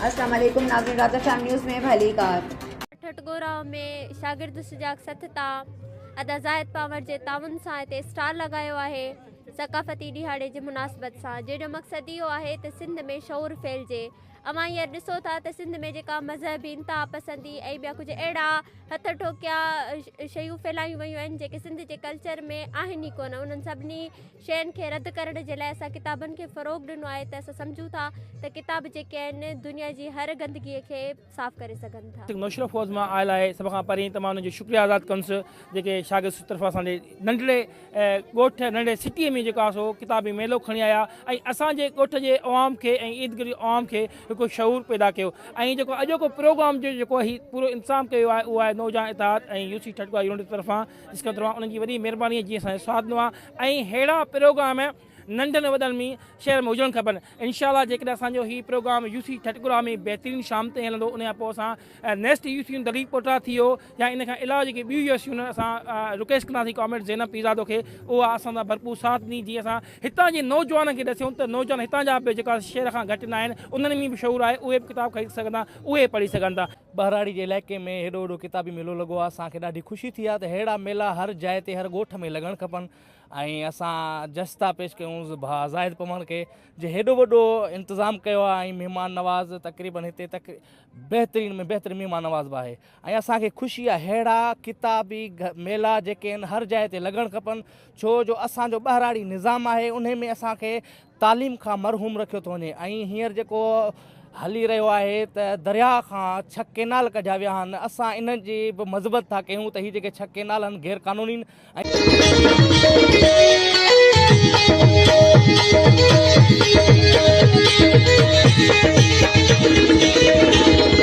اسلام عليڪم ناظرين رات ايف ايم نيوز ۾ ڀلي ڪار. ٺٽ ڳوراء ۾ شاگرد سجاڳ سٿ تان ادا زاهد پنور جي تعاون سان هتي اسٽال لڳايو آهي ثقافتي ڏيهاڙي جي مناسبت سان جنهن جو مقصد اهو آهي ته سنڌ ۾ شعور ڦهلجي اوهان هينئر ڏسو ٿا ته سنڌ ۾ جيڪا مذهبي انتها پسندي ۽ ٻيا ڪجهه اهڙا هٿ ٺوڪيا شيون ڦهلايون ويون آهن جيڪي سنڌ جي ڪلچر ۾ آهن ئي ڪونه انهن سڀني شين کي رد ڪرڻ جي لاء اسان ڪتابن کي فروغ ڏنو آهي ته اسان سمجهون ٿا ته ڪتاب جيڪي آهن دنيا جي هر گندگي کي صاف ڪري سگهن ٿا. نوشهرو فوج مان آيل آهي سڀ کان پهرين ته مان انهن جو شڪريه ادا ڪنس جيڪي شاگرد طرفان اسان جي ننڍڙي ڳوٺ ننڍڙي سٽي ۾ جيڪا سو ڪتابي ميلو کڻي آيا ۽ اسان جي ڳوٺ جي عوام کي ۽ ايرد گرد جي عوام کي هڪ شعور پيدا ڪيو ۽ جيڪو اڄوڪو پروگرام جيڪو هي پورو انتظام ڪيو آهي اهو آهي نوجوان اتحاد ۽ يو سي ٺٽوي يونٽ طرفان جس کان توهان انهن جي وڏي مهرباني جي اسان جو ساٿ ڏنو آهي ۽ ههڙا پروگرام ننڍن وڏن ۾ شهر ۾ هجڻ کپن انشاء الله جيڪڏهن اسان جو هي پروگرام يو سي ٺٽڪرا ۾ بهترين شام تائين هلندو ان کان پوء اسان نيسٽ يو سي دليل پوٽرا ٿي ويو يا ان کان علاوه جيڪي ٻيون يو سيون اسان رڪويسٽ ڪنداسين ڪامريڊ زينب پيزادو کي اها اسان سان ڀرپور ساٿ ڏني جي اسان هتان جي نوجوانن کي ڏسيون ته نوجوان هتان جا به جيڪا شهر کان گهٽ نه آهن انهن ۾ به شعور آهي اهي به ڪتاب خريد سگهن ٿا اهي پڙهي سگهن ٿا ٻهراڙي جي علائقي ۾ هيڏو وڏو ڪتابي ميلو لڳو آهي اسان کي ڏاڍي خوشي ٿي آهي ته ههڙا ميلا هر جاء تي هر ڳوٺ ۾ لڳڻ کپن ۽ اسان جس ٿا پيش ڪيون ڀاء زاهد پمڻ کي جي هيڏو وڏو انتظام ڪيو آهي ۽ مهمان نواز تقريبن هتي تق بهترين ۾ بهترين مهمان نواز به آهي ۽ اسان کي خوشي آهي ههڙا ڪتابي ميلا جيڪي آهن هر جاء تي لڳڻ کپن ڇو جو اسانجو ٻهراڙي نظام آهي ان ۾ اسان کي تعليم کان محروم رکيو ٿو وڃي ۽ هينئر جيڪو هلي رهيو آهي ته درياء کان ڇهه ڪينال ڪڍيا ويا آهن اسان ان جي به مذمت ٿا ڪيون ته هي جيڪي ڇهه ڪينال آهن غير قانونين ۽